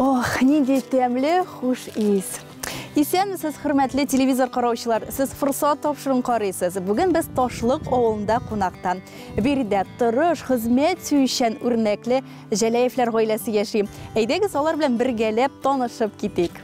Ох, нинди тәмле хуш ис. Исәнмесез, хөрмәтле телевизор караучылар. Сез форсат тапшыруын карыйсыз. Бүген без Ташлык авылында кунакта. Биредә тырыш, хезмәт сөючән, үрнәкле Җәләевләр гаиләсе яши. Әйдәгез, алар белән бергәләп танышып китик.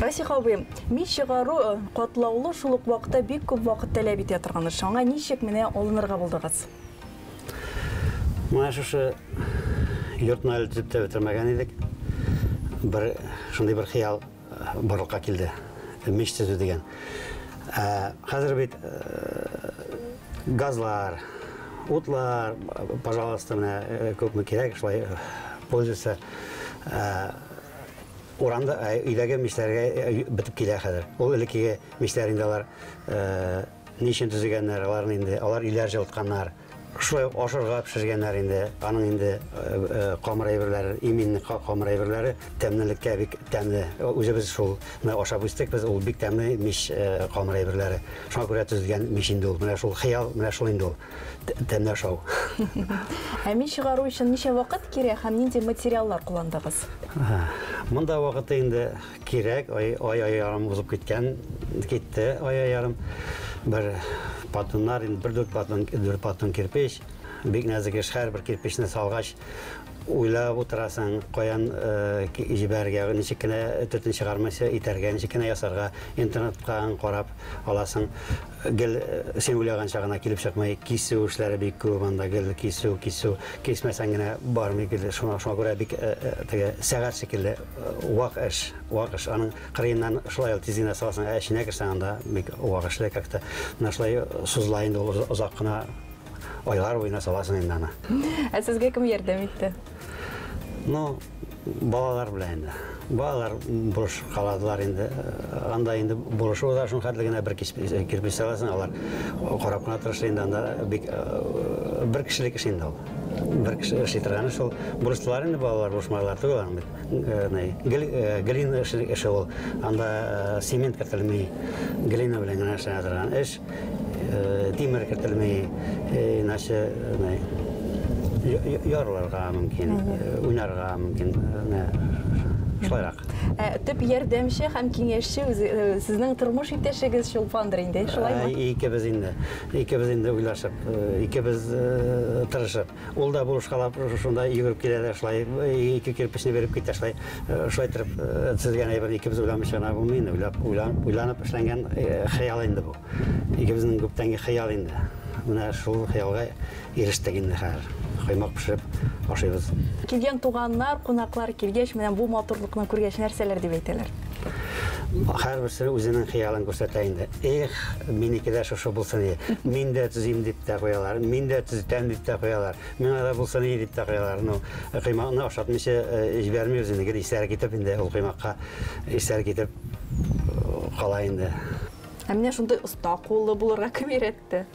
Расих абый, мич чыгару э, катлаулы шул ук вакытта бик күп вакыт таләп итә торган эш. Аңа ничек менә алынырга булдыгыз? Менә шушы йортны әле төзеп тә бетермәгән идек. Бер шундый бер хыял э, барлыкка килде. Мич төзү дигән. Ә, Хәзер бит э, газлар, утлар, пожалуйста, менә э, күпме кирәк, шулай э, пользуйся. Ә, Урамда, өйдәге мичләргә бетеп килә хәзер. Ул элеккеге мичләр инде алар ни өчен төзегәннәр, аларны инде алар өйләр җылытканнар. Шулай ук ашырга пешергәннәр инде. Аның инде камыр әйберләре, имин камыр әйберләре тәмлелеккә бик тәмле. Үзебез шулны ашап үстек без, ул бик тәмле мич камыр әйберләре. Шуңа күрә төзелгән мич инде ул. Менә шул хыял, менә шул инде ул. Тәмле ашау. Ә мич чыгару өчен ничә вакыт кирәк һәм нинди материаллар кулландыгыз? Монда вакыты инде кирәк, ай ай ярым узып киткән, китте ай ай ярым. Бер патуннар, инде бер дүрт патун, дүрт патун кирпич. Бик нәзек эш, һәрбер кирпечне салгач, уйлап утырасың, каян э, җибәрергә, ничек кенә төтен чыгармыйча итәргә, ничек кенә ясарга, интернетка карап аласың. Гел син уйлаганча гына килеп чыкмый, кисү эшләре бик күп анда, гел кисү, кисү, кисмәсәң генә бармый, гел шуңа шуңа күрә бик теге сәгать шикелле вак эш, вак эш. Аның кырыеннан шулай ул тиз генә саласың, ә эченә керсәң анда бик вак эшле как-то. Менә шулай сузыла инде ул озак кына айлар буена саласың инде аны. Ә сезгә кем ярдәм итте? Ну, балалар белән инде. Балалар бурыш каладылар инде. Анда инде бурышы уза, шуның хәтле генә бер кирпич саласың, алар карап кына тырыша инде анда бик э, бер кешелек эш инде ул. Бер кеше эшли торганы шул. Бурыштылар инде балалар, бурышмалар түгел аның бит. Э, э, глина эше ул. Анда цемент кертелми. Глина белән генә эшләнә торган эш. э, тимер кертелми, э, иначе э, ярылырга мөмкин, уйнарга мөмкин. Шулайрак. Ә, төп ярдәмче һәм киңәшче сезнең тормыш иптәшегез Чулпандыр инде, шулаймы? Икебез инде. Икебез инде уйлашып, икебез тырышып. Ул да булышкалап шунда йөгереп килә дә шулай ике кирпечне биреп китә шулай шулай торып төзелгән әйберне икебез уйламыйча гына булмый инде уйлап уйланып эшләнгән хыял инде бу икебезнең күптәнге хыял инде менә шул хыялга ирештек инде хәзер коймак пешереп ашыйбыз Килгән туганнар, кунаклар килгәч, менә бу матурлыкны күргәч, нәрсәләр дип әйтәләр? Һәрберсе үзенең хыялын күрсәтә инде. Эх, минеке дә шушы булсын иде. Мин дә төзим дип тә куялар. Мин дә төзетәм дип тә куялар. Миңа да булсын иде дип тә куялар. Ну, коймакны ашатмыйча э, җибәрми үзен. Гел исләре китеп инде ул коймакка исләре китеп э, кала инде. Ә менә шундый оста куллы булырга кем өйрәтте?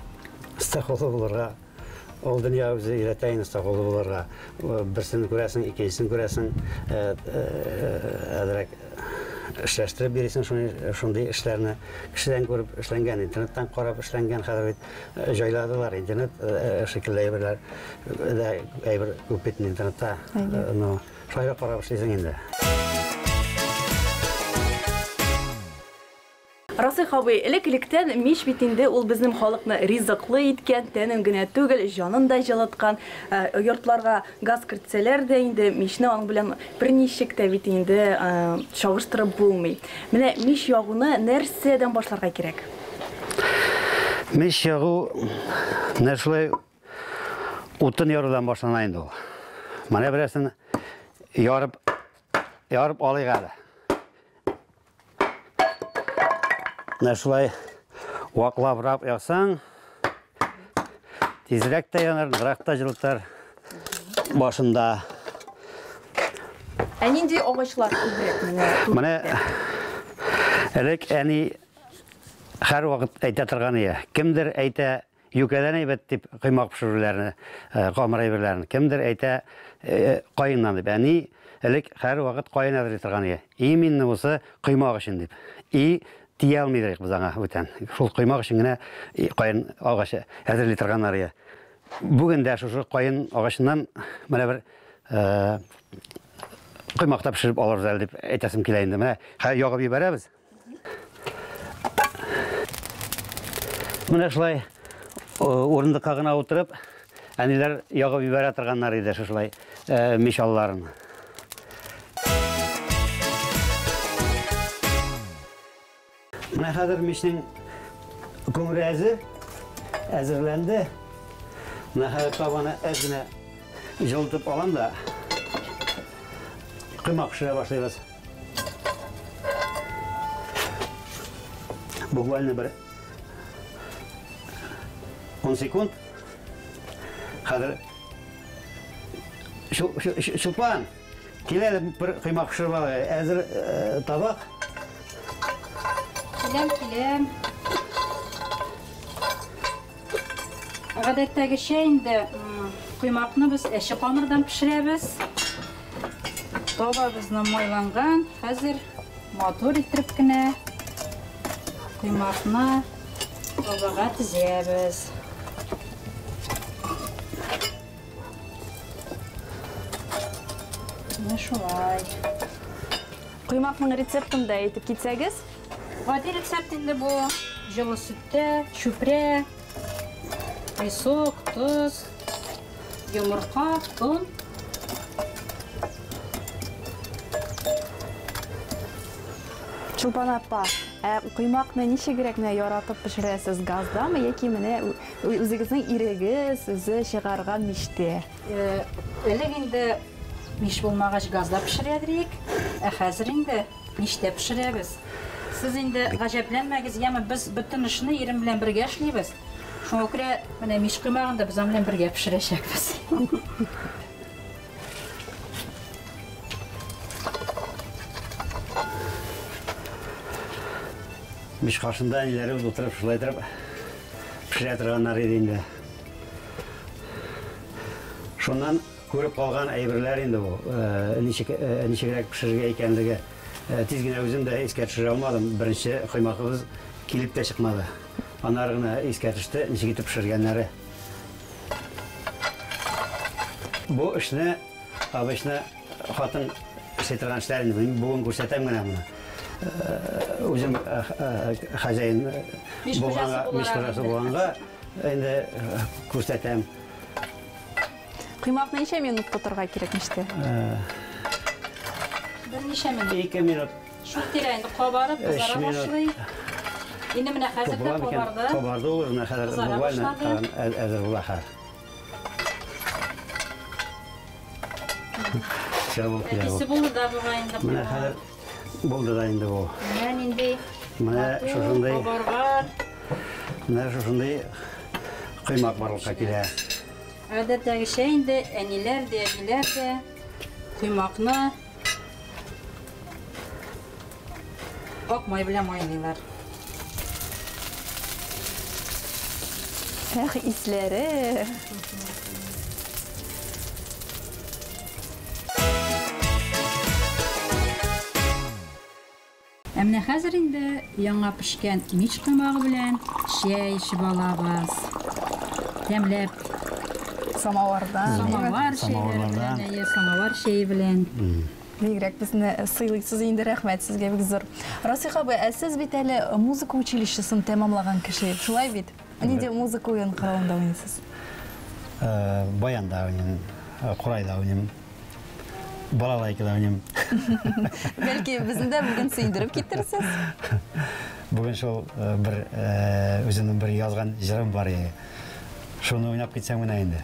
Стахолы булырга Ул дөнья үзе өйрәтә инде сакулы булырга. Берсен күрәсең, икенчесен күрәсең, э, э, әзрәк эшләштереп бирисең шундый шундый эшләрне. Кешедән күреп эшләнгән, интернеттан карап эшләнгән хәзер бит э, җайладылар интернет э, шикелле әйберләр. Дә әйбер күп бит интернетта. Ну, шулай да карап эшлисең инде. Расыйх абый, элек-электән мич бит инде ул безнем халыкны ризыклы иткән, тәнен генә түгел, җанын да җылыткан. Йортларга газ кертсәләр дә инде, мичне аның белән берничек тә бит инде чагыштырып булмый. Менә мич ягуны нәрсәдән башларга кирәк? Мич ягу менә шулай утын ярудан башлана инде ул. Менә берәрсен ярып, ярып алыйк әле. Менә шулай ваклабрак ясаң, тизрәк тә янар, ныграк та җылытар башында. Ә нинди агачлар күбрәк менә? Менә элек әни һәр вакыт әйтә торган ие. Кемдер әйтә, Юкәдән әйбәт дип коймак пешерүләрне, камыр әйберләрен, кемдер әйтә, каеннан дип. Әни элек һәрвакыт каен әзерли торган иде. И мине бусы коймак өчен дип. И тия алмый идек без аңа бүтән. Шул коймак өчен генә каен агачы әзерли торганнар иде. Бүген дә шушы каен агачыннан менә бер коймак та пешереп алырбыз әле дип әйтәсем килә инде. Менә хәзер ягып җибәрәбез. Менә шулай урындыкка гына утырып, әниләр ягып җибәрә торганнар иде шулай мич алларын. Менә хәзер мичнең күңеле әзер, әзерләнде. Менә хәзер табаны әз генә җылытып алам да, коймак пешерә башлыйбыз. Буквально бер 10 секунд. Хәзер Чулпан, килә бер коймак пешереп алай. Әзер э, табак. Киләм, киләм. Гадәттәгечә инде коймакны без әче камырдан пешерәбез. Табабызны майланган. Хәзер матур итеп кенә коймакны табага тезәбез. Менә шулай. Коймакның рецептын да әйтеп китсәгез? Гади рецепт инде бу. Җылы сөттә, чүпрә, песок, тоз, йомырка, он. Чулпан апа, ә коймакны ничегрәк менә яратып пешерәсез? Газдамы яки менә үзегезнең ирегез үзе чыгарган мичтә? Элек инде мич булмагач газда пешерә идек, ә хәзер инде Ништә пешерәбез? Сез инде гаҗәпләнмәгез, яме без бөтен эшне ирем белән бергә эшлибез. Шуңа күрә менә мич коймагын да без аның белән бергә пешерәчәкбез. Мич каршында әниләребез утырып, шулай итеп пешерә торганнар иде инде. Шуннан Күреп калган әйберләр инде ул. Ничек, ничегрәк пешерергә икәнлеге тиз генә үзем дә искә төшерә алмадым. Беренче коймагыбыз килеп тә чыкмады. Аннары гына искә төште, ничек итеп пешергәннәре. Бу эшне обычно хатын эшли торган эшләр инде. Мин бүген күрсәтәм генә моны. Үзем хозяин булганга, мич хуҗасы булганга, инде күрсәтәм. Коймакны ничә минут тотырга кирәк мичтә? Берничә минут. Ике минут. Шул тирә инде кабарып кызара башлый. Инде менә хәзер дә кабарды. Кабарды ул менә хәзер буквально әзер була хәзер. Все булды. Әтисе булды да бугай инде. Менә хәзер булды да инде бу. Менә нинди. Менә шушындый. Кабарган. Менә шушындый коймак барлыкка килә. Гадәттәгечә инде әниләр дә, әбиләр дә коймакны ак май белән майлыйлар. Эх, исләре! Ә менә хәзер инде яңа пешкән мич коймагы белән чәй эчеп алабыз. Тәмләп. Самаварда. Самавар чәйләре белән, әйе, самавар чәе белән. Бигрәк безне сыйлыйсыз инде, рәхмәт сезгә бик зур. Расих абый, ә сез бит әле музыка училищесын тәмамлаган кеше, шулай бит? Ә нинди музыка уен коралында уйныйсыз? Э, баянда уйныйм, э, курайда уйныйм. Балалайкада уйныйм. Бәлки безне дә бүген сөендереп китерсез? Бүген шул э, бер э, үземнең бер язган җырым бар иде. Шуны уйнап китсәм генә инде.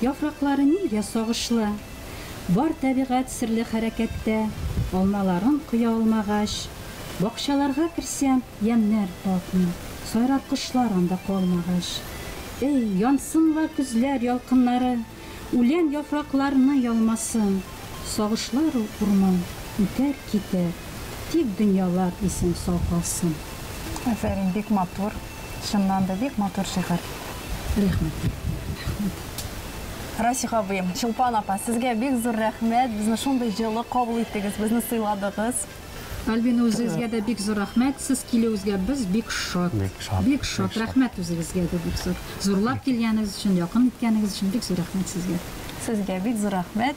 Яфраклары нигә сагышлы? Бар тәбигать серле хәрәкәттә, Алмаларын коя алмагач. Бакчаларга керсәм, ямьнәр татмый, Сайрар кошлар анда калмагач. Эй, янсын ла көзләр ялкыннары, Үлән яфракларны ялмасын. Сагышлар ул урман, үтәр, китәр, Тик дөньялар исән-сау калсын. Афәрин, бик матур. Чыннан да бик матур шигырь. Рәхмәт. Расих абыем, Чулпан апа, сезгә бик зур рәхмәт, безне шундый җылы кабул иттегез, безне сыйладыгыз. Альбина үзегезгә дә бик зур рәхмәт, сез килүегезгә без бик шат. Бик шат. Бик шат. Рәхмәт үзегезгә дә бик зур. Зурлап килгәнегез өчен, якын иткәнегез өчен бик зур рәхмәт сезгә. Сезгә бик зур рәхмәт.